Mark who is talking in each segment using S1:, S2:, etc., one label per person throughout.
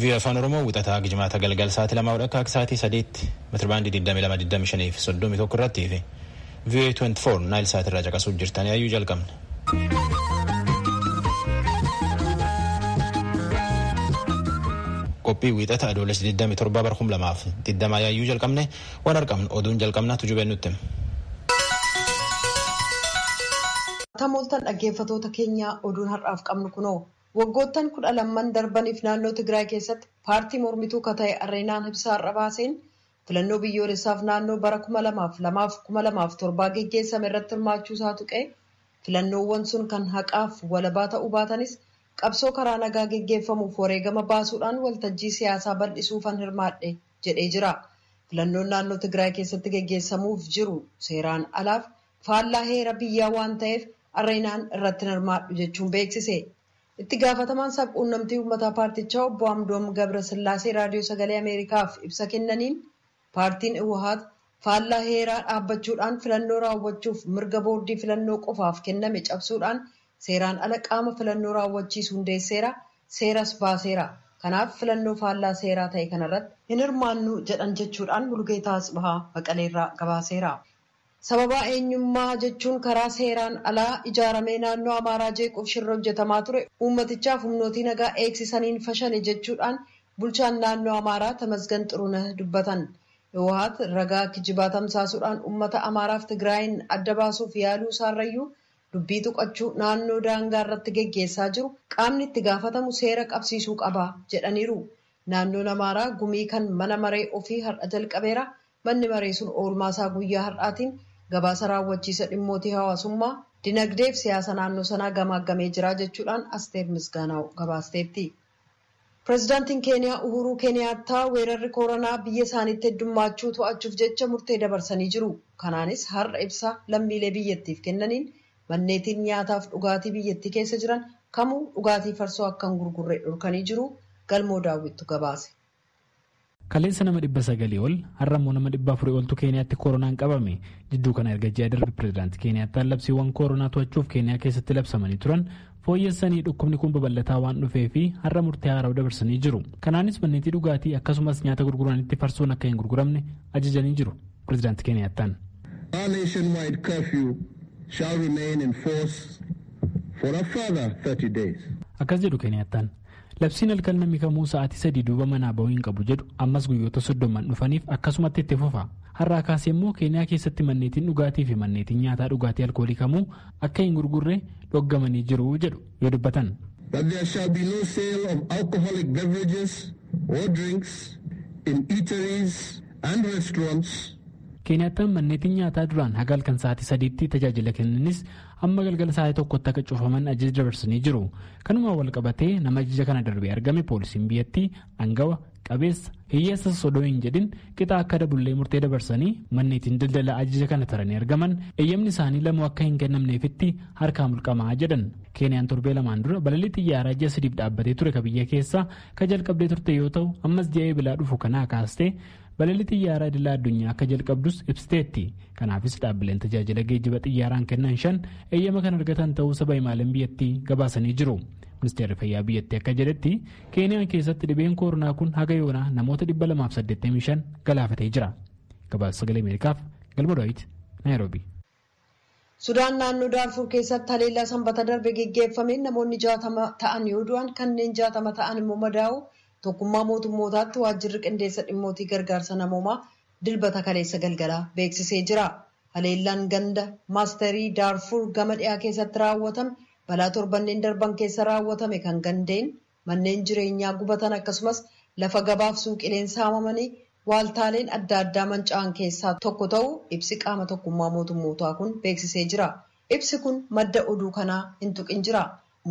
S1: Vii'oo Afaan Oromoo wixataa gijmaata galgal sa'aatii lamaa hodha akka sa'aatii sadiitti metirbaandii 2225 fi 31 irratti fi vii'oo 24 naayil sa'aatii irraa caqasuuf jirtanii ayyuu jalqabna. Qophii wixata adoolessa 27 bara 2020 yaayyuu jalqabne Waan argamnu oduun jalqabna tujubeen nutti
S2: hima. Akkam ooltan dhaggeeffatoota keenyaa oduun har'aaf qabnu kunoo waggoottan kudha lamman darbaniif naannoo Tigraay keessatti paartii mormituu ka ta'e Areenaan ibsa har'a baaseen filannoo biyyoolessaaf naannoo bara kuma lamaaf lamaaf kuma lamaaf torbaa geggeessame irratti hirmaachuu isaa tuqee filannoowwan sun kan haqaaf walabaa ta'uu baatanis qabsoo karaa nagaa geggeeffamuuf wareegama baasuudhaan waltajjii siyaasaa bal'isuufan hirmaadhe jedhee jira. Filannoon naannoo Tigraay keessatti geggeessamuuf jiru seeraan alaaf faallaa heera biyyaa waan ta'eef Areenaan irratti hin hirmaadhu jechuun beeksise. Itti gaafatamaan sab-quunnamtii uummataa paartichaa obbo Amdoom Gabrasillaasee Raadiyoo Sagalee Ameerikaaf ibsa kennaniin paartiin Iwahaat faallaa heeraa dhaabbachuudhaan filannoo raawwachuuf mirga boordii filannoo qofaaf kenname cabsuudhaan Seeraan ala qaama filannoo raawwachiisu hundeesseera, seeras baaseera. Kanaaf filannoo faallaa seeraa ta'e kanarratti hin hirmaannu jedhan jechuudhaan Mulugeetaa Atsibahaa Maqaleerraa gabaaseera. Sababaa eenyummaa jechuun karaa seeraan alaa ijaaramee naannoo Amaaraa jeequuf shirri hojjetamaa ture uummatichaaf humnootii nagaa eegsisaniin fashale jechuudhaan bulchaan naannoo Amaaraa Tamasgan Xurunah dubbatan. Hiwohaat ragaa kijibaa tamsaasuudhaan uummata Amaaraaf Tigraayiin adda baasuuf yaaluu isaarrayyuu Dubbii tuqachuu naannoo daangaa irratti geggeessaa jiru qaamni itti gaafatamu seera qabsiisuu qaba jedhaniiru. Naannoon Amaaraa gumii kan mana maree ofii har'a jalqabeera. Manni maree sun oolmaa isaa guyyaa har'aatiin gabaasa raawwachiisa dhimmootii hawaasummaa, dinagdee fi siyaasa naannoo sanaa gamaaggamee jira jechuudhaan Asteer Misgaanaaw gabaasteetti. Pirezidaantiin Keeniyaa Uhuuruu Keeniyaattaa weerarri kooranaa biyya isaaniitti heddummaachuu to'achuuf jecha murtee dabarsanii jiru. Kanaanis har'a ibsa lammiilee biyyattiif kennaniin manneetiin nyaataaf dhugaatii biyyattii keessa jiran kamuu dhugaatii farsoo akka hin gurgurre dhorkanii jiru. Galmoo Daawwittu gabaase.
S3: Kaleessa nama 900 ol, har'a immoo nama 400 oltu Keeniyaatti koronaan qabame. Jidduu kana erga ji'a darbe pirezidaanti Keeniyaattaan labsiiwwan koronaa to'achuuf Keeniyaa keessatti labsamanii turan fooyyessanii dhukkubni kun babal'ataa waan dhufee fi har'a murtee haarawa dabarsanii jiru. Kanaanis manneetii dhugaatii akkasumas nyaata gurguranitti farsoon akka hin gurguramne ajajanii jiru pirezidaanti Keeniyaattaan. Our
S4: nationwide curfew shall remain in force for a further 30 days. Akkas jedhu Keeniyaattaan.
S3: Labsiin halkan namni kamuu sa'aatii sadii duuba manaa bahuu hin qabu jedhu ammas guyyoota soddoman dhufaniif akkasumatti itti fufa. Har'aa kaasee immoo Keeniyaa keessatti manneetiin dhugaatii fi manneetiin nyaataa dhugaatii alkoolii kamuu akka hin gurgurre dhoggamanii jiru jedhu yoo dubbatan. That there shall be
S4: no sale of alcoholic beverages or drinks in eateries and restaurants. Keeniyaattaan
S3: manneetiin nyaataa duraan haga halkan sa'aatii sadiitti tajaajila kennanis amma galgala sa'aatii tokkotti akka cufaman ajaja dabarsanii jiru kanumaan wal qabatee nama ajaja kana darbee argame poolisiin biyyattii angawa qabeessa hiyyeessa sodoo hin jedhin qixa akka dabullee murtee dabarsanii manneetiin daldala ajaja kana taranii argaman eeyyamni isaanii lamuu akka hin kennamneefitti harkaa mulqamaa jedhan keeniyaan torbee lamaan dura balalii xiyyaaraa ji'a sadiif dhaabbatee ture ka biyya keessaa ka jalqabdee turte yoo ta'u ammas ji'a eebilaa dhufu kanaa kaastee Balalii xiyyaaraa idila addunyaa akka jalqabdus ibsiteetti. Kanaafis dhaabbileen tajaajila geejjiba xiyyaaraan kennan shan eeyyama kan argatan ta'uu saba himaaleen biyyattii gabaasanii jiru. Ministeerri fayyaa biyyattii akka jedhetti Keeniyaan keessatti dhibeen kooronaa kun haga yoonaa namoota 285 galaafatee jira. Gabaasa sagalee Ameerikaaf Galma Daawit Naayiroobii.
S2: Sudaan naannoo Daarfuur keessatti haleellaa Sanbata darbe geggeeffameen namoonni 60 ta'an yoo du'an kanneen 60 ta'an immoo madaa'uu Tokkummaa Mootummootaatti Waajjirri Qindeessa Dhimmootii Gargaarsa Namoomaa Dilbata kaleessa galgalaa beeksisee jira. Haleellaan ganda Maasterii Daarfuur gama dhiyaa keessatti raawwatame balaa torbanneen darban keessa raawwatame kan gandeen Manneen jireenyaa gubatan akkasumas lafa gabaaf suuqileen saamamanii waaltaaleen adda addaa manca'an keessaa tokko ta'uu ibsi qaama tokkummaa mootummootaa kun beeksisee jira. Ibsi kun madda oduu kanaa hin tuqin jira.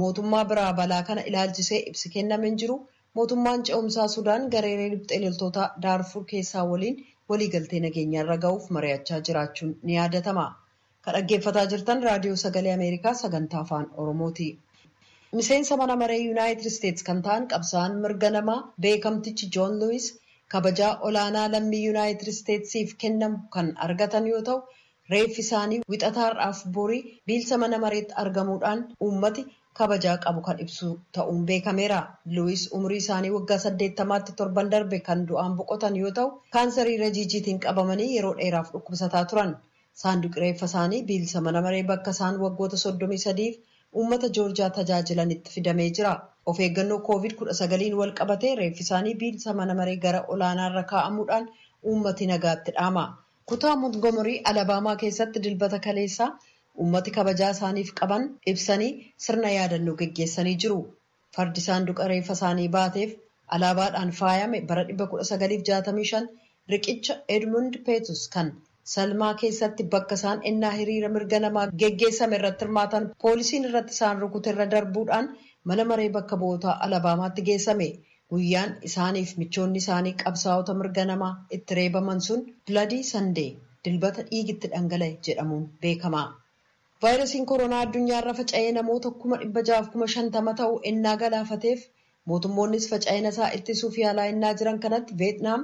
S2: Mootummaa biraa balaa kana ilaalchisee ibsi kenname hin jiru. Mootummaan ce'umsaa Sudaan gareeree riphxee loltootaa Daarfuur keessaa waliin waliigaltee nageenyaarra ga'uuf mari'achaa jiraachuun ni yaadatama. Ka dhaggeeffataa jirtan Raadiyoo Sagalee Ameerikaa Sagantaa Afaan Oromooti. Miseensa mana maree Yunaayitid Isteets kan ta'an qabsaa'aan mirga namaa beekamtichi Joon Luwiis kabajaa olaanaa lammii Yunaayitid Isteetsiif kennamu kan argatan yoo ta'u, reeffi isaanii Wixata har'aaf borii biilsa mana mareetti argamuudhaan uummati kabajaa qabu kan ibsu ta'uun beekameera. Luwiis umurii isaanii waggaa saddeettamaatti torban darbe kan du'aan boqotan yoo ta'u, kaansarii rajiijiitiin qabamanii yeroo dheeraaf dhukkubsataa turan. Saanduqi reeffa isaanii biilsa mana maree bakka isaan waggoota 33f uummata Joorjiyaa tajaajilanitti fidamee jira. Of eeggannoo Covid 19n wal qabatee reeffi isaanii biilsa mana maree gara olaanaa irra kaa'amuudhaan uummati nagaatti dhaama. Kutaa Montgomery, Alabama keessatti Dilbata kaleessaa uummati kabajaa isaaniif qaban ibsanii sirna yaadannoo geggeessanii jiru. Fardi saanduqa reeffa isaanii baateef alaabaadhaan faayame bara 1965 riqicha Edmund Pettus kan Selma keessatti bakka isaan ennaa hiriira mirga namaa geggeessame irratti hirmaatan poolisiin irratti isaan rukute irra darbuudhaan mana maree bakka bu'ootaa Alabaamaatti geessame. Guyyaan isaaniif michoonni isaanii qabsaa'ota mirga namaa itti reebaman sun Bloody Sunday, Dilbata dhiigi itti dhangala'e, jedhamuun beekama. Vaayirasiin koronaa addunyaarra faca'ee namoota kuma dhibba ja'aaf kuma shantama ta'u ennaa galaafateef mootummoonnis faca'inasaa ittisuuf yaalaa ennaa jiran kanatti Veetnaam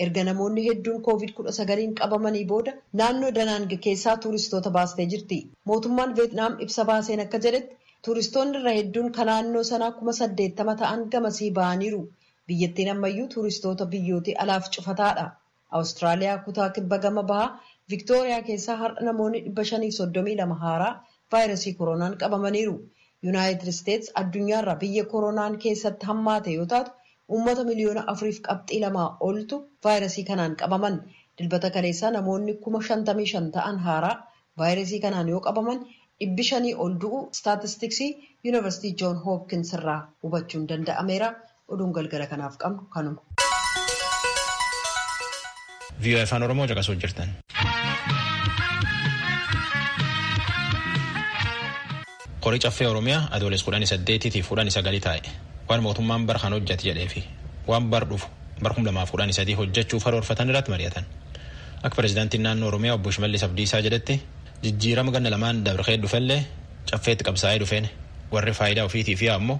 S2: erga namoonni hedduun Kooviid kudha sagaliin qabamanii booda naannoo Danaang keessaa tuuristoota baastee jirti. Mootummaan Veetnaam ibsa baaseen akka jedhetti tuuristoonni irra hedduun ka naannoo sanaa kuma saddeettama ta'an gamasii ba'aniiru. Biyyattiin ammayyuu tuuristoota biyyootii alaaf cufataadha. Awustiraaliyaa kutaa kibba gama bahaa Viktooriyaa keessaa har'a namoonni 532 haaraa vaayrasii koroonaan qabamaniiru. Yunaayitid Isteets addunyaarraa biyya koroonaan keessatti hammaate yoo taatu uummata miliyoona 4f qabxii 2 oltu vaayrasii kanaan qabaman. Dilbata kaleessaa namoonni 55,000 ta'an haaraa vaayrasii kanaan yoo qabaman dhibbi shanii ol du'uu istaatistiksii Yunivarsitii Joon Hoopkins irraa hubachuun danda'ameera. Oduun galgala kanaaf qabnu
S1: kanuma. VOA Afaan Oromoo caqasuu jirtan. Qorii caffee Oromiyaa adooles kudhan saddeetii fi kudhan sagalii taa'e waan mootummaan bara kan hojjate jedhee fi waan bar dhufu bara kuma lamaaf kudhan sadii hojjechuuf haroorfatan irratti mari'atan. Akka pirezidaantiin naannoo Oromiyaa obbo Shimallis Abdiisaa jedhetti jijjiirama ganna lamaan dabree dhufellee caffeetti qabsaa'ee dhufeen warri faayidaa ofiitii fi ammoo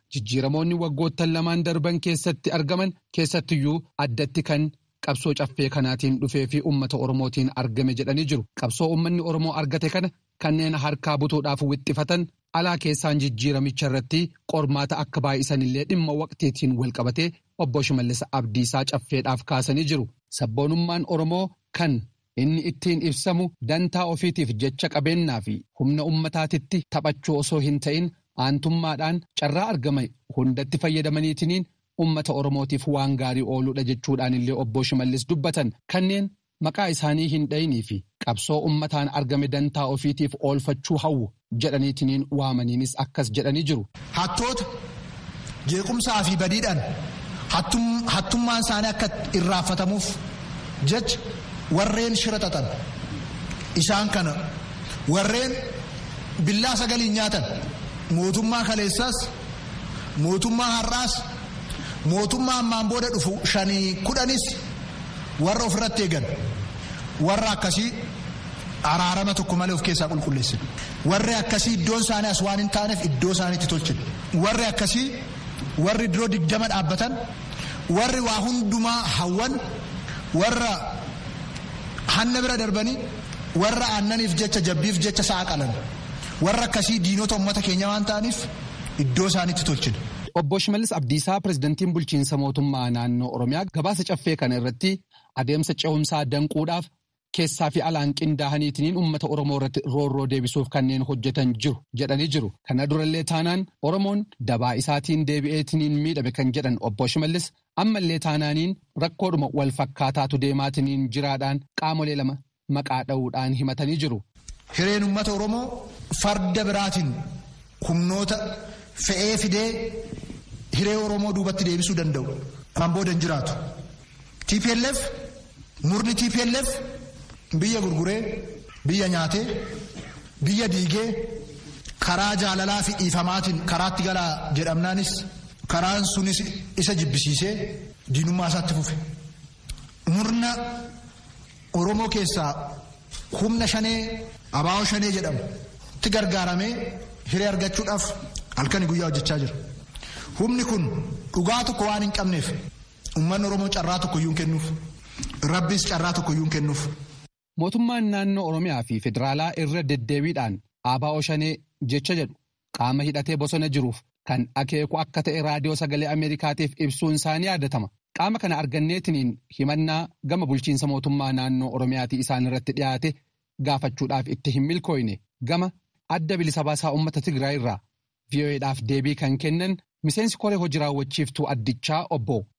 S5: Jijjiiramoonni waggoottan lamaan darban keessatti argaman keessattiyyuu addatti kan qabsoo caffee kanaatiin dhufee fi ummata Oromootiin argame jedhanii jiru. Qabsoo ummanni Oromoo argate kana kanneen harkaa butuudhaaf wixxifatan alaa keessaan jijjiiramicha irratti qormaata akka baay'isan illee dhimma waqtiitiin walqabatee Obbo Shimallis Abdiisaa Caffeedhaaf kaasanii jiru. Sabboonummaan Oromoo kan Inni ittiin ibsamu dantaa ofiitiif jecha qabeennaa fi humna ummataatitti taphachuu osoo hin ta'in aantummaadhaan carraa argame hundatti fayyadamaniitiniin ummata Oromootiif waan gaarii ooluudha jechuudhaanillee Obboo Shimallis dubbatan. Kanneen maqaa isaanii hin dhayinii fi qabsoo ummataan argame dantaa ofiitiif oolfachuu hawwu jedhaniitiniin waamaniinis akkas jedhanii jiru. Hattoota,
S6: jeequmsaa fi badiidhaan hattummaan isaanii akka irraanfatamuuf jecha warreen shira xaxan isaan kana warreen billaa sagaliin nyaatan mootummaa kaleessaas mootummaa har'aas mootummaa ammaan booda dhufu shanii kudhanis warra ofirratti eegan warra akkasii araarama tokko malee of keessaa qulqulleessina. Warri akkasii iddoon isaanii as waan hin taaneef iddoo isaaniitti tolchina. Warri akkasii warri diroo digdama dhaabbatan, warri waa hundumaa hawwan, warra hanna bira darbanii, warra aannaniif jecha jabbiif jecha sa'a qalan. Warra akkasii diinota uummata keenya waan ta'aniif iddoo isaaniitti tolchina. Obbo Shimallis
S5: Abdiisaa pirezidantiin bulchiinsa mootummaa naannoo Oromiyaa gabaasa caffee kana irratti adeemsa ce'umsaa danquudhaaf Keessaa fi alaan qindaahaniitiniin ummata Oromoo irratti roorroo deebisuuf kanneen hojjetan jiru jedhanii jiru. Kana durallee taanaan Oromoon dabaa isaatiin deebi'eetiniin miidhame kan jedhan Obbo Shimallis ammallee taanaaniin rakkoodhuma wal fakkaataatu deemaatiniin jiraadhaan qaamolee lama maqaa dha'uudhaan himatanii jiru. Hireen ummata
S6: Oromoo farda biraatiin humnoota fe'ee fidee hiree Oromoo duubatti deebisuu danda'u kan booda hin jiraatu. TPLF murni TPLF biyya gurguree biyya nyaatee biyya diigee karaa jaalalaa fi dhiifamaatiin karaatti galaa jedhamnaanis karaan sunis isa jibbisiisee diinummaa isaatti fufe. Murna Oromoo keessaa Humna shanee abaa'oo shanee jedhamu itti gargaaramee hiree argachuudhaaf halkanii guyyaa hojjechaa jira. Humni kun dhugaa tokko waan hin qabneef uummanni Oromoo carraa tokko iyyuu hin kennuuf. Rabbiis carraa tokko iyyuu hin kennuuf. Mootummaan
S5: naannoo Oromiyaa fi Federaalaa irra deddeebiidhaan abaa'oo shanee jecha jedhu qaama hidhatee bosona jiruuf kan akeeku akka ta'e raadiyoo sagalee Ameerikaatiif ibsuun isaa ni yaadatama. Qaama kana arganneetiniin himannaa gama bulchiinsa mootummaa naannoo Oromiyaatii isaan irratti dhiyaate gaafachuudhaaf itti hin milkooyne. Gama Adda Bilisa Baasaa Uummata Tigraay irraa VOA'dhaaf deebii kan kennan miseensi koree hoji raawwachiiftuu addichaa obbo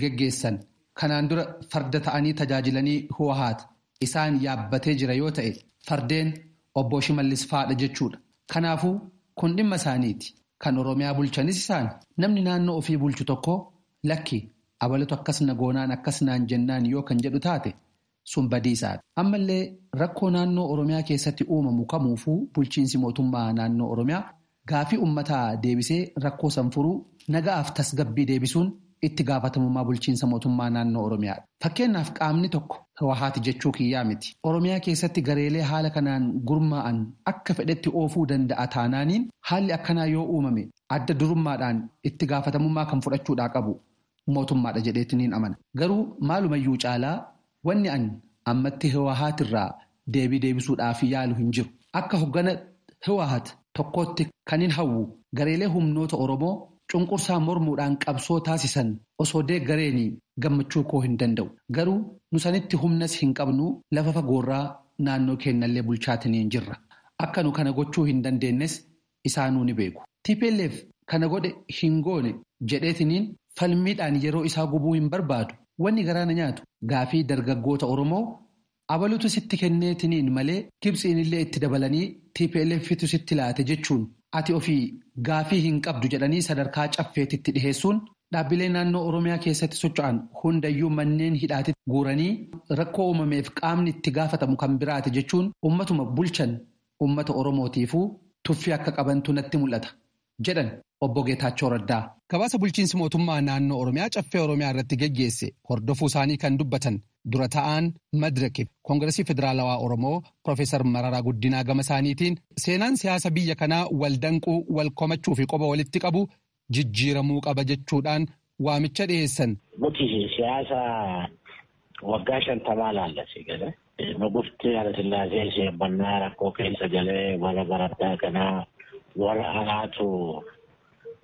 S5: geggeessan kanaan dura farda ta'anii tajaajilanii Huwahaat isaan yaabbatee jira yoo ta'e fardeen Obboo Shimallis faadha jechuudha. Kanaafuu kun dhimma isaaniiti. Kan Oromiyaa bulchanis isaani. Namni naannoo ofii bulchu tokko lakki abalutu akkas na goonaan akkas naan jennaan yoo kan jedhu taate Sun badiisaadha. Ammallee rakkoo naannoo Oromiyaa keessatti uumamu kamuufuu bulchiinsi mootummaa naannoo Oromiyaa gaafii ummataa deebisee rakkoo san furuu, naga'aaf tasgabbii deebisuun itti gaafatamummaa bulchiinsa mootummaa naannoo Oromiyaadha. Fakkeennaaf qaamni tokko, Hiwahaati jechuu kiyyaa miti, Oromiyaa keessatti gareelee haala kanaan gurmaa'an akka fedhetti oofuu danda'a taanaaniin haalli akkanaa yoo uumame adda durummaadhaan itti gaafatamummaa kan fudhachuudhaa qabu mootummaadha jedheeti niin amana. Garuu maalumayyuu caalaa wanni an ammatti Hiwahaat irraa deebii deebisuudhaaf yaalu hin jiru. Akka hoggana Hiwahaat tokkootti kanin hawwu gareelee humnoota Oromoo cunqursaa mormuudhaan qabsoo taasisan osoo deeggareenii gammachuu koo hin danda'u. Garuu nu sanitti humnas hin qabnu lafa fagoorraa naannoo keennallee bulchaatiniin jirra. Akka nu kana gochuu hin dandeennes isaanuu ni beeku. Tplf kana godhe hin goone jedheetiniin falmiidhaan yeroo isaa gubuu hin barbaadu. Wanni garaa na nyaatu gaafii dargaggoota Oromoo abalutu sitti kenneetiniin malee Gibtsiinillee itti dabalanii TPLFtu sitti laate jechuun ati ofii gaafii hin qabdu jedhanii sadarkaa caffeetitti dhiheessuun dhaabbilee naannoo Oromiyaa keessatti socho'an hundayyuu manneen hidhaatitti guuranii rakkoo uumameef qaamni itti gaafatamu kan biraati jechuun ummatuma bulchan uummata Oromootiifuu tuffii akka qabantu natti mul'ata, jedhan Obbo Geetaachoo Raddaa. Gabaasa bulchiinsi mootummaa naannoo Oromiyaa Caffee Oromiyaa irratti geggeesse hordofuu isaanii kan dubbatan dura ta'aan Madrek fi Kongirasii Federaalawaa Oromoo Pirofeesar Mararaa Guddinaa gama isaaniitiin, seenaan siyaasa biyya kanaa wal danquu, wal komachuu fi qoba walitti qabuu jijjiiramuu qaba jechuudhaan waamicha dhiheessan. Nuti siyaasa
S7: waggaa shantamaa laalla si gale. Nugufti Hayilasillaasee sheebbannaa rakkoo keessa galee warra baraddaa kanaa warra alaatu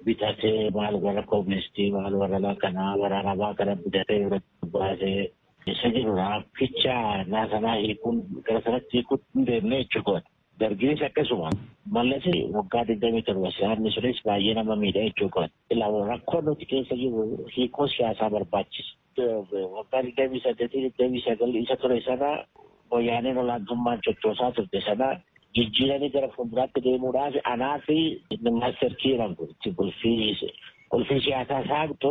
S7: bitatee maal warra kooministii maal warra lakanaa warra arabaa kana bitatee irratti baasee isa jirudha. Ficha naasanaa hiikuun gara sanatti hiikuutti hin deemne jechuudha. Dargiinis akkasuma. Mallas waggaa digdamii torba siyaasni sunis baay'ee nama miidha jechuu kooti. Ilaa rakkoo nuti keessa jirru hiikoo siyaasaa barbaachisa. Waggaa digdamii saddeetii digdamii sagal isa ture sana wayyaaneen olaantummaan chochoosaa turte sana jijjiiranii gara fuulduraatti deemuudhaaf anaa fi inni maaster kii jedhamtu itti qulfii qulfii siyaasaa saaqtu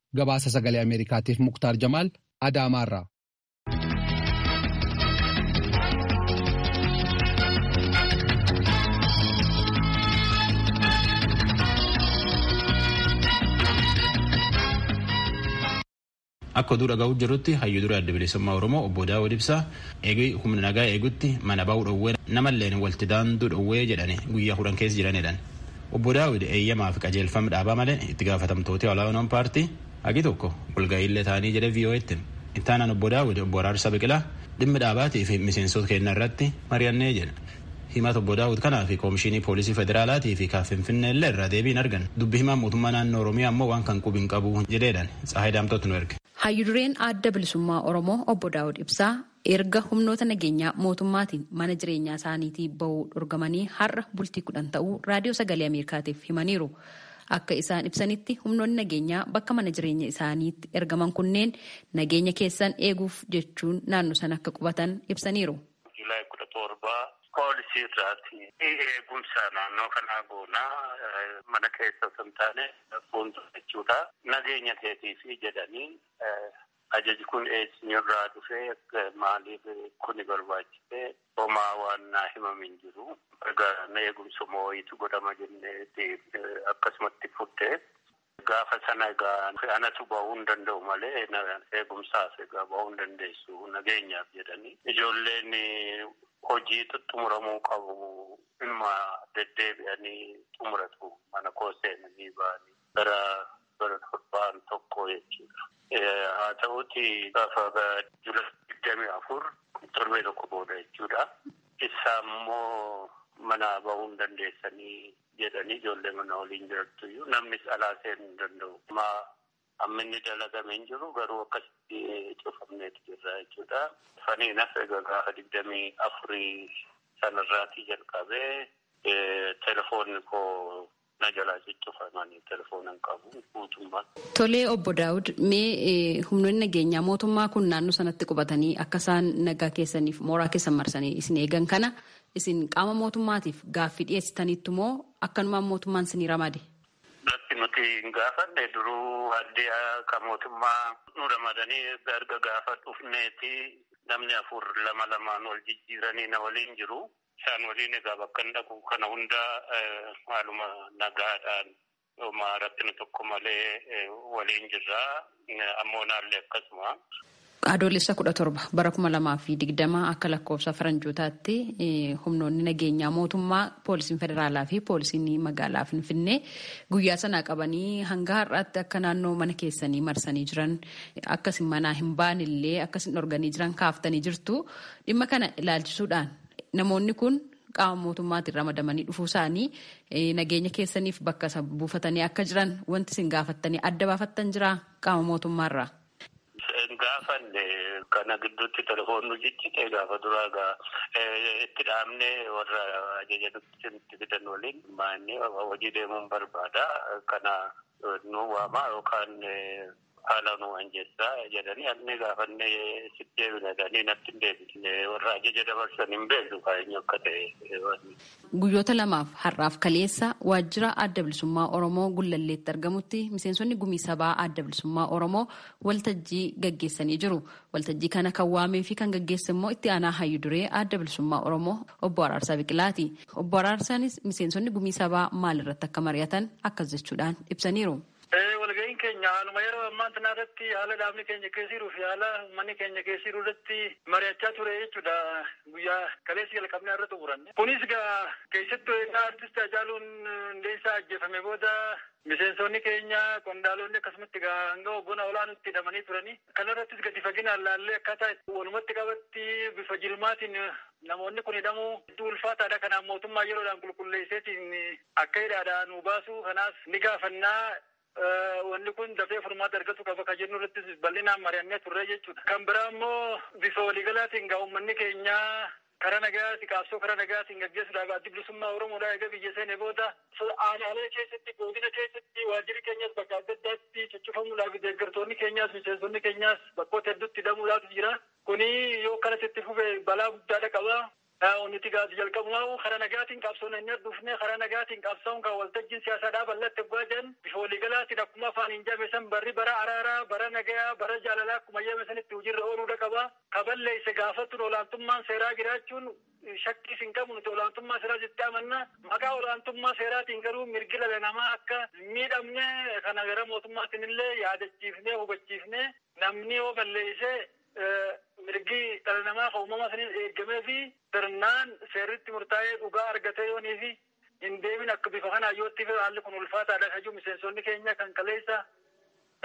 S5: Gabaasa Sagalee Ameerikaatiif Muktaar Jamaal Adaamaarraa.
S1: Akka oduu dhaga'uu jirrutti hayyuu dura adda bilisummaa Oromoo obbo Daawud Ibsaa eegii humna nagaa eegutti mana bahu dhowwee namalleen walti daanduu dhowwee jedhani guyyaa kudhan keessa jiranidhan. Obbo Daawid eeyyamaa fi qajeelfam dhaabaa malee itti gaafatamtooti olaanoon paartii hagi tokko walga'iillee taanii jedhe VOAtti hime. Ittaanaan Obbo Daawid Obbo Araarsaa Biqilaa dhimmi dhaabaatii fi miseensoota keenna irratti mari'annee jedhe. Himata Obbo Daawud kanaa fi Koomishiinii Poolisii Federaalaatii fi ka Finfinneellee irraa deebii hin arganne. Dubbi himaan mootummaa naannoo Oromiyaa ammoo waan kan qubi hin qabu jedheedhaan Tsaahay Daamxootu nu erge. Hayyu dureen Adda
S8: Bilisummaa Oromoo Obbo Daawud Ibsaa Erga humnoota nageenyaa mootummaatiin mana jireenyaa isaaniitii ba'uu dhorgamanii har'a bultii kudhan ta'uu Raadiyoo Sagalee Ameerikaatiif himaniiru. Akka isaan ibsanitti humnoonni nageenyaa bakka mana jireenya isaaniitti ergaman kunneen nageenya keessan eeguuf jechuun naannoo sana akka qubatan ibsaniiru. July kudha torba
S9: poolisii irraati eegumsa naannoo kanaa goona mana keessa osoo hin taane fuuldura jechuudha. Nageenya keetiifi jedhanii Ajaji kun eesnirraa dhufe? Maaliif kuni barbaachise? Homaa waan naa himame hin jiru. Egaa na eegumsuma wayiitu godhama jenneeti akkasumatti fudhe. Gaafa sana egaa anatu bahuu hin danda'u malee eegumsaaf egaa bahuu hin dandeessu nageenyaaf jedhanii. Ijoolleen hojii xuxxumuramuu qabu inuma deddeebi'anii xumuratu mana koo seenanii ba'anii. bara 7n tokko jechuudha. Haa ta'uti gaafa July 24 torbee tokko booda jechuudha. Issaa immoo manaa bahuu hin dandeessanii jedhanii ijoollee mana waliin jirattu iyyuu namnis alaa seenuu hin danda'u. Amma inni dalagame hin jiru garuu akkasitti cufamneeti jirra jechuudha. Funny enough egaa gaafa 24 sanarraatii jalqabee telefoonni koo Na jalaa ciccufa mani telefoona hin qabu guutummaan. Tolee obbo
S8: Daawud mee humnoonni nageenyaa mootummaa kun naannoo sanatti qubatanii akka isaan nagaa keessaniif mooraa keessan marsanii isin eegan kana isin qaama mootummaatiif gaaffii dhiyeessitaniittu moo akkanumaan mootummaan isinii ramade? Lakki nuti
S9: hin gaafanne duruu haddiyaa kan mootummaa nu ramadanii erga gaafa dhufneeti namni afur lama lamaan wal jijjiiranii na waliin jiru. Isaan waliin egaa bakkan dhaqu kana hunda haaluma nagaadhaan homa rakkina tokko malee waliin jirra. Ammoonaallee akkasuma. Adoolessa
S8: kudha torba bara kuma lamaa fi digdama akka lakkoofsa faranjootaatti humnoonni nageenyaa mootummaa poolisiin federaalaa fi poolisiin magaalaa Finfinnee guyyaa sanaa qabanii hanga har'aatti akka naannoo mana keessanii marsanii jiran akkasin manaa hin baanillee akkasin dhorganii jiran kaaftanii jirtu. Dhimma kana ilaalchisuudhaan namoonni kun qaama mootummaatiin ramadamanii dhufuu isaanii nageenya keessaniif bakka isa buufatanii akka jiran wanti isin gaafattanii adda baafattan jiraa qaama mootummaarraa? Hin
S9: gaafanne kana gidduutti telefoon nu ciccite gaafa duraa gaa itti dhaabne warra ajaja nutti fidan waliin maanni hojii deemuun barbaada kana nu waamaa yookaan Haala nuu anjessaa jedhanii almee gaafannee sitti deebina jedhanii natti hin deebisne warra ajaja dabarsan hin beeknu kaa eenyu akka ta'e wanni. Guyyoota
S8: lamaaf har'aaf kaleessa waajjira Adda Bilisummaa Oromoo Gullalleetti argamutti miseensonni gumii sabaa Adda Bilisummaa Oromoo waltajjii gaggeessanii jiru. Waltajjii kana kan waamee fi kan gaggeesse immoo itti aanaa hayyu duree Adda Bilisummaa Oromoo obbo Araarsaa Biqilaati. Obbo Araarsaanis miseensonni gumii sabaa maal irratti akka mari'atan akkas jechuudhaan ibsaniiru. Ee, walga'iin keenya
S10: haaluma yeroo ammaan tanaa irratti, haala dhaabni keenya keessa jiruu fi haala ummanni keenya keessa jiru irratti mari'achaa ture jechuu dha. Guyyaa kaleessa jalqabnee har'a xumuranne. Kunis egaa keessattuu egaa Artist Haacaaluu Hundeessaa ajjeefame booda miseensoonni keenya, qondaaloonni akkasumatti egaa hanga hogganaa olaanuutti hidhamanii turani. Kana irrattis gadi faginaan laallee akkaataa itti walumatti qabatti bifa jilmaatiin namoonni kun hidhamuu hedduu ulfaataa dha. Kanaaf mootummaan yeroodhaan qulqulleesseetiin Akka hidhaadhaa nuu baasuu kanaas ni gaafanna. Wanni kun dafee furmaata argatu qaba kan jennu irrattis bal'inaan mari'annee turre jechuudha. Kan biraa immoo bifa waliigalaatiin egaa uummanni keenya karaa nagayaati qaabsoo karaa nagayaatiin gaggeessuudhaaf Addi Bilisummaa Oromoodhaa eega biyya seenee booda, aanaalee keessatti, goodina keessatti waajjirri keenyas bakka adda addaatti cuccufamuudhaafi deeggartoonni keenyaas miseensonni keenyaas bakkoota hedduutti hidhamuudhaaf jira. Kuni yoo akkanatti itti fufe balaa guddaadha qaba. Yaa onni tigaa si jalqabumaahuu karaa nagaatiin qabsoon anyaa dhufnee karaa nagaatiin qabsaa'uun kaa waltajjiin siyaasaa dhaaballatte oggaa jean bifa waliigalaatiin akkuma afaaniin jeame san barri bara araaraa, bara nagayaa, bara jaalalaa akkuma jeame sanitti hujiirra ooluudha qaba. Ka balleesse gaafachuun olaantummaan seeraa jiraachuun shakkiis hin qabu nuti olaantummaa seeraas itti amanna. Maqaa olaantummaa seeraatiin garuu mirgi dhala namaa akka hin miidhamne kana gara mootummaatiin illee yaadachiifnee hubachiifnee namni yoo balleesse mirgi dhala namaa kan uumamaa saniin eeggamee fi sirnaan seerri itti murtaa'ee dhugaa argatee yoonii fi hin deemin akka bifa kanaan yoo itti haalli kun ulfaataadha kan jiru miseensonni keenya kan kaleessa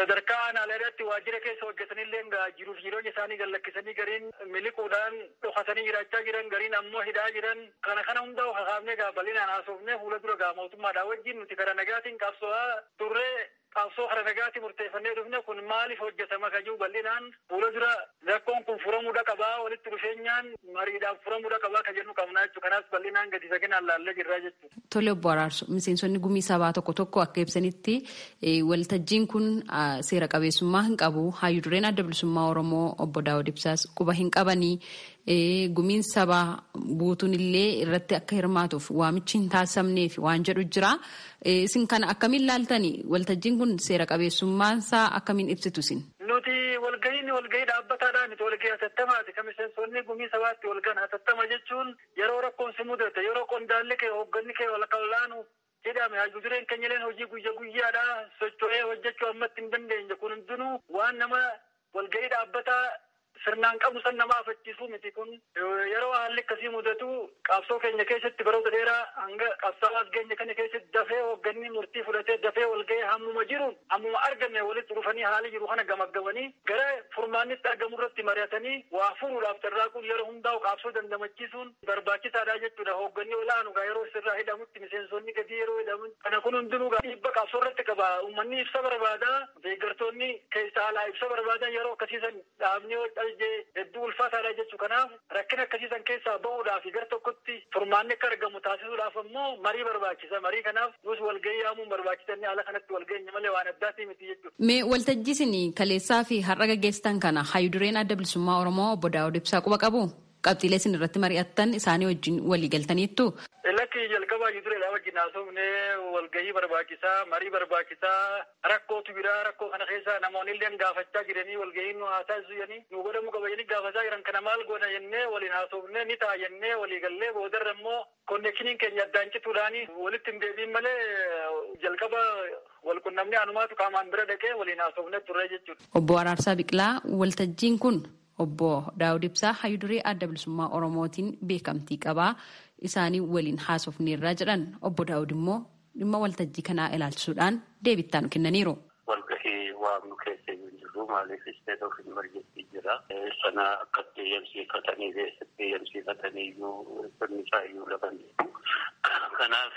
S10: sadarkaa aanaaleerratti waajjira keessa hojjetanillee jiruuf jireenya isaanii gad lakkisanii gariin miliquudhaan dhokatanii jiraachaa jiran gariin ammoo hidhaa jiran kana kana hundaa'u kakaafnee gaa bal'inaan haasofnee fuula dura gaa mootummaadhaa wajjin nuti karaa nagaatiin qabsoo'aa turree Qabsoo kara nagaati murteeffannee dhufne kun maaliif hojjatama kan jiru bal'inaan fuula dura rakkoon kun furamuudha qabaa walitti dhufeenyaan mariidhaan furamuudha qabaa kan jennu qabnaa jechuudha. Kanaas bal'inaan gadi faginaan laallee jirraa jechuudha. Tole obbo Araarso
S8: miseensonni gumii sabaa tokko tokko akka ibsanitti waltajjiin kun seera qabeessummaa hin qabu. Haayyu dureen adda bilisummaa Oromoo obbo Daawud Ibsaas quba hin qabanii Ee, gumiin sabaa guutuun illee irratti akka hirmaatuuf waamichi hin taasifamneefi waan jedhu jira. Isin kana akkamiin ilaaltani? Waltajjiin kun seera qabeessummaan isaa akkamiin ibsitu isin? Nuti walgahiin
S10: walgahii dhaabbataadhaa miti, walgahii hatattamaati. Kan miseensonni gumii sabaa itti walgahan hatattama jechuun yeroo rakkoon si mudate, yeroo qondaalli kee, hoogganni kee, walakkaa ol'aanu jedhame hayyu dureen kenyaleen hojii guyya guyyaadha socho'ee hojjachuu ammatti hin dandeenye kun hundinuu waan nama walga'ii dhaabbataa sirnaan qabnu san nama afachiisuu miti kun yeroo haalli akkasii mudatu qabsoo keenya keessatti baroota dheeraa hanga qabsaa'aa as geenye kana keessatti dafee hoogganni murtii fudhatee dafee walga'ee hammuma jiruun hammuma arganne walitti dhufanii haala jiru kana gamaggamanii gara furmaannitti argamu irratti mari'atanii waa furuudhaaf carraaquun yeroo hundaa'u qaabsoo dandamachiisuun barbaachisaadha jechuudha. Hoogganni olaanu gaa yeroo sirraa hidhamutti miseensonni gadii yeroo hidhaman kana kun hundinuu gaa dhiibba qabsoo irratti qaba. Ummanni ibsa barbaada. Deeggartoonni keessa alaa ibsa barbaadan yeroo akkasii san dhaabni yoo calje hedduu ulfaataadha jechu. Kanaaf rakkina akkasii san keessaa bahuudhaafi gar tokkotti furmaanni akka argamu taasisuudhaaf ammoo marii barbaachisa. Marii kanaaf nuus walgahii yaamuun barbaachisa inni haala kanatti wal geenye malee waan addaatii miti jechu. Mee waltajjii isin
S8: kaleessaafi har'a gaggeessitan kana Hayyu Dureen Adda Bilisummaa Oromoo Obbo Daawud Ibsaa quba qabuu? Qabxiilee isin irratti mari'attan isaanii wajjin walii galtaniittuu? Lakki, jalqaba
S10: hayyu dureedhaa wajjin haasofnee walgahii barbaachisaa, marii barbaachisaa, rakkootu jira, rakkoo kana keessa namoonilleen gaafachaa jiranii walgahiin nu haa taasisu jedhanii nuu godhamuu qaba jedhanii gaafataa jiran kana maal goona jennee waliin haasofnee ni ta'a jennee walii gallee boodarra immoo konnekshiniin keenya addaan cituudhaan walitti hin deebi'in malee jalqaba wal qunnamnee anumaatu qaamaan bira dhaqee waliin haasofnee turree jechuudha. Obbo Araarsaa Biqilaa,
S8: Waltajjiin kun Obbo Daawud Ibsaa Hayyu Duree Adda Bilisummaa Oromootiin beekamtii qaba. Isaanii waliin haasofneerra jedhan. Obbo Daawud immoo dhimma waltajjii kanaa ilaalchisuudhaan deebii itti aanu kennaniiru. Walgahii
S9: waamnu keessa hin jirru maaliif isteet of imerjensii jira. Sana akkatti eeyyamsiifatanii fi eessatti eeyyamsiifatanii iyyuu sirni isaa iyyuu lafa hin jiru. Kanaaf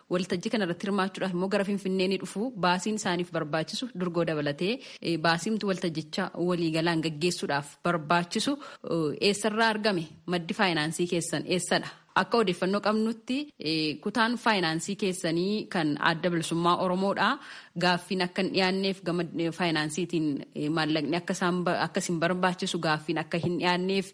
S8: Waltajjii kana irratti hirmaachuudhaaf immoo gara Finfinnee ni dhufu. Baasiin isaaniif barbaachisu durgoo dabalatee baasiimti waltajjicha waliigalaan gaggeessuudhaaf barbaachisu eessarraa argame? Maddi faayinaansii keessan eessadha? Akka odeeffannoo qabnutti kutaan faayinaansii keessanii kan Adda Bilisummaa Oromoodha. Gaaffiin akka hin dhiyaanneef gama faayinaansiitiin maallaqni akka isin barbaachisu gaaffiin akka hin dhiyaanneef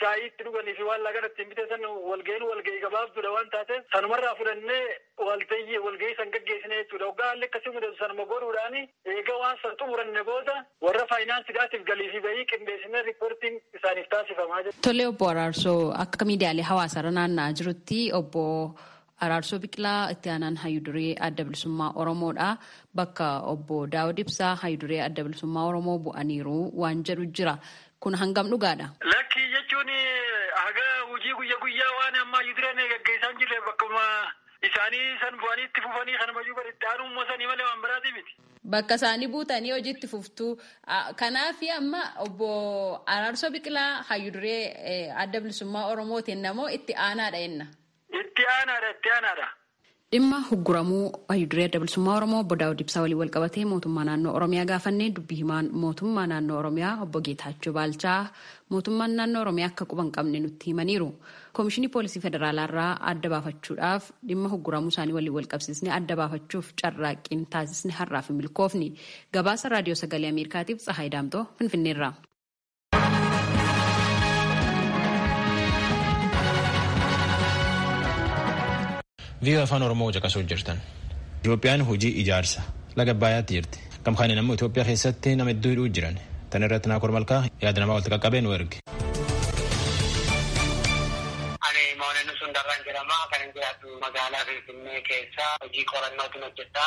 S10: shaayii itti dhuganii fi waan laaqana ittiin bitan san walgahiin walgahii gabaabduudha waan taateef sanumarraa fudhannee waltayyi walgahii san gaggeessina jechuudha. Hoggaa haalli akkasii mudatu sanuma godhuudhaan eega waan san xumuranne booda warra faayinaansidhaatiif galii fi bahii qindeessinee riippoortiin isaaniif taasifama.
S8: Tole Obbo
S10: Araarsoo,
S8: akka miidiyaalee
S10: hawaasaarra
S8: naanna'aa jirutti
S10: Obbo
S8: Araarsoo Biqilaa itti aanaan hayyu duree Adda Bilisummaa Oromoodha. Bakka obbo Daawud Ibsaa hayyu duree Adda Bilisummaa Oromoo bu'aniiru waan jedhu jira. Kun hangam dhugaadha? Lakkii jechuun
S10: haga hojii guyya guyyaa waan amma hayyu dureen gaggeessaan jirre bakkuma isaanii san bu'anii itti fufanii kanumayyuu bar itti aanuu immoo sanii malee waan biraatii miti. Bakka isaanii
S8: buutanii hojii itti fuftuu. Kanaaf amma obbo Araarsoo Biqilaa hayyu duree Adda Bilisummaa Oromootiin namoo itti aanaadha jenna. Itti aanaadha
S10: itti aanaadha. Dhimma
S8: hugguramuu Hayyu Duree Adda Bilisummaa Oromoo Obbo Daawud Ibsaa waliin walqabatee Mootummaa Naannoo Oromiyaa gaafannee Dubbi Himaan Mootummaa Naannoo Oromiyaa Obbo Geetaachoo Baalchaa Mootummaan Naannoo Oromiyaa akka quba hin qabne nutti himaniiru. Koomishinii Poolisii Federaalaa irraa adda baafachuudhaaf dhimma hugguramuu isaanii waliin walqabsiisnee adda baafachuuf carraaqqiin taasisne har'aaf hin milkoofne. Gabaasa Raadiyoo Sagalee Ameerikaatiif Tsahaay Daamxoo Finfinneerraa.
S1: Viiyoo afaan Oromoo caqasuu jirtan. Itoophiyaan hojii ijaarsa laga Abbaayaatti jirti. Gama kanaan ammoo Itoophiyaa keessatti nama hedduu hidhuu jiran. Tan irratti Naakoor Malkaa yaada namaa walitti qaqqabee nu erge. Ani Mooneen
S11: Sundarraan jedhama. Kan jiraatu magaalaa Finfinnee keessa hojii qorannootiin hojjedha.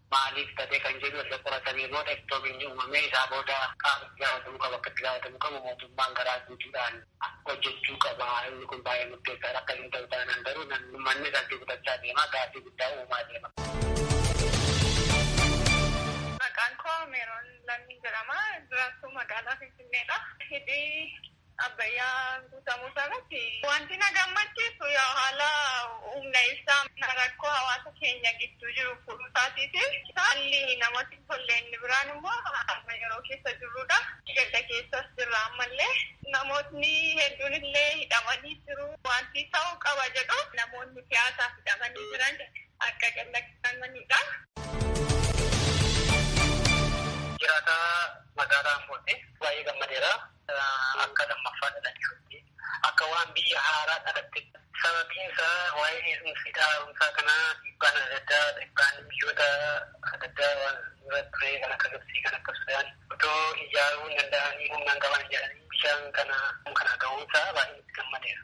S11: maaliif tate kan jedhu erga qoratanii booda ittoo binni uumamee isaa booda qaama itti gaafatamuu qabu akka itti gaafatamuu qabu mootummaan garaa guutuudhaan hojjechuu qaba inni kun baay'ee murteessaadha akka hin ta'u taanaan garuu namni ummanni salphii kutachaa deema gaaffii guddaa uumaa deema. Maqaan koo Meeroon
S12: Lammii jedhama. Jiraattuu magaalaa Finfinneedha. Hidhi Abbayyaa guutamuu isaarratti wanti na gammachiisu yaa haala humna ibsaa rakkoo hawaasa keenya gidduu jiru furuu isaatiifi haalli namatti tolle inni biraan immoo amma yeroo keessa jirrudha. Gadda keessas jirra ammallee namootni hedduun illee hidhamanii jiru. Wanti ta'uu qaba jedhu namoonni siyaasaaf hidhamanii jiran akka gadhiifamanidha. Jiraataa magaalaa Ambootti
S11: baay'ee gammadeera. Akka lammaffaa dhalachootti akka waan biyya haaraa dhalatte. Sababiin isaa waa'een eegumsi hidha haaromsaa kanaa dhiibbaan adda addaa dhiibbaan biyyoota adda addaa waan dura ture kan akka Gibtsii kan akka Sudaan otoo ijaaruu hin danda'anii humna hin qaban jedhanii bishaan kana kana ga'uun isaa baay'ee itti gammadeera.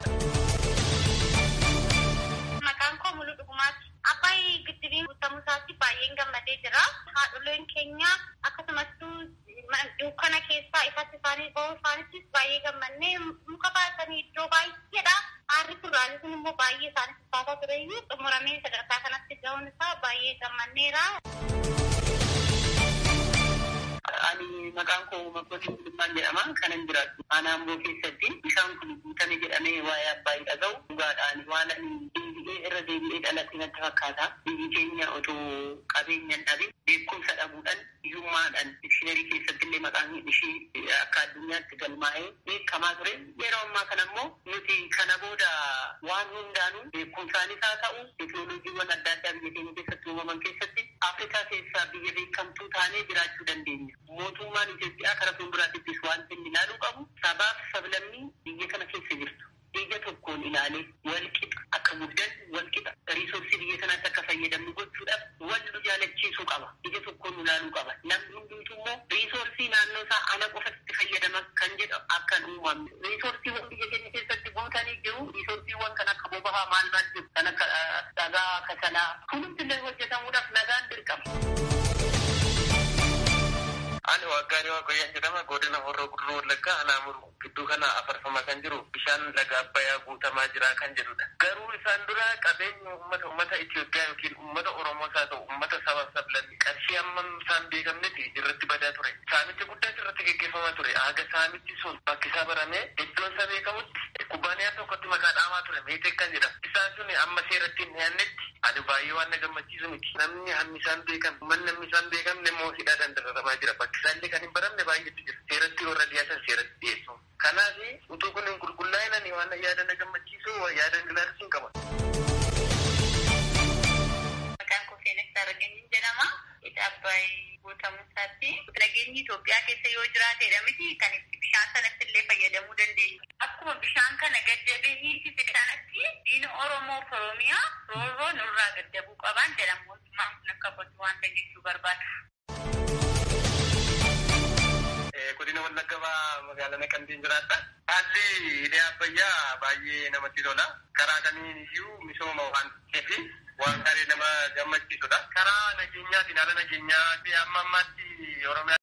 S12: Maqaan koo Muluu Dhugumaati. Abbaay giddibiin guutamuu isaatti baay'een gammadee jira. Haadholeen keenya akkasumas Dukkana keessaa ifatti isaanii ba'uu isaanittis baay'ee gammanne. Muka baatanii iddoo baay'eedhaa aarri furraalee sun immoo baay'ee isaanii fakkaataa tureyyuu xumuramee sadarkaa kanatti ga'uun isaa baay'ee gammanneera.
S11: Ani maqaan koo Makotii Gulummaan jedhama. Kanan jiraadhu aanaa Amboo keessatti. Bishaan kun guutame jedhamee waa'ee Abbaayii dhaga'u dhugaadha. Ani waan ani deebi'ee irra deebi'ee dhaladhe natti fakkaata. Biyyi keenya otoo qabeenya hin dhabin beekumsa dhabuudhaan Hiyyummaadhaan dikshiinarii keessatti illee maqaan ishii akka addunyaatti galmaa'ee beekamaa ture. Yeroo ammaa kana immoo nuti kana booda waan hundaanuu beekumsaanis haa ta'u teknolojiiwwan adda addaa biyya keenya keessatti uumaman keessatti Afrikaa keessaa biyya beekamtuu taanee jiraachuu dandeenya. Mootummaan Itoophiyaa kara fuulduraatittis waanti inni ilaaluu qabu sabaaf sablammii biyya kana keessa jirtu. ija tokkoon ilaalee walqixa akka guddannu, walqixa resource biyya kanaatti akka fayyadamnu gochuudhaaf wal nu jaalachiisuu qaba. Ija tokkoon nu laaluu qaba. Namni hundumtuu immoo resource naannoo isaa ana qofatu itti fayyadama kan jedhu akka hin uumamne. Resourceewwan biyya keenya keessatti guutanii jiru. Resourceewwan kan akka boba'aa maal maal jiru. Kan akka dhagaa, kasalaa hundumti illee hojjetamuudhaaf nagaan dirqama.
S13: Ani Waaqgaarii Waaqoyyaan jedhama. Godina Horroo Guduruu Wallaggaa Anaa Muruu. Gidduu kana afarfamaa kan jiru bishaan laga Abbayaa guutamaa jira kan jedhudha. Garuu isaan dura qabeenyi uummata uummata Itoophiyaa ykn uummata Oromoos haa ta'u uummata sabaaf sablammii qarshii hammam isaan beekamnetti irratti badaa ture. Saamicha guddaas irratti geggeeffamaa ture. Haga saamichi sun bakkisaa baramee iddoonsaa beekamutti kubbaaniyaan tokkotti maqaa dhaamaa ture Meeteek kan jedhamu. Isaan sun amma seeratti hin dhiyaannetti ani baay'ee waan na gammachiisudha. barsiisu miti. Namni hammi isaa hin beekamne, manni hammi isaa hin beekamne immoo hidhaadhaan dararamaa jira. Bakki isaa illee kan hin baramne baay'eetu jira. Seeratti warra dhiyaatan seeratti dhiyeessuun. Kanaaf utuu kun hin qulqullaa'in ani waan yaada na gammachiisu yaada hin ilaalu siin qaba. Maqaan koo Seenessaa Rageenyiin jedhama. Hidha
S12: Abbaay
S11: guutamu. Satti lageenyi Itoophiyaa keessa yoo jiraateedha miti kan itti bishaan sanatti illee fayyadamuu dandeenyu. Akkuma bishaan kana gaddabee hiisise sanatti diina Oromoo fi Oromiyaa roorroo nurraa gaddabuu qabaan jedha mootummaan kun akka kootti waan san jechuu barbaada.
S13: Godina Wallagga Bahaa magaalaa Naqamteen jiraadha. Haalli hidha Abbayyaa baay'ee namatti tola. Karaa kamiin iyyuu misooma waan fi waan gaarii nama gammachiisudha. Karaa nageenyaatiin haala nageenyaa fi amma ammaatti Oromiyaa.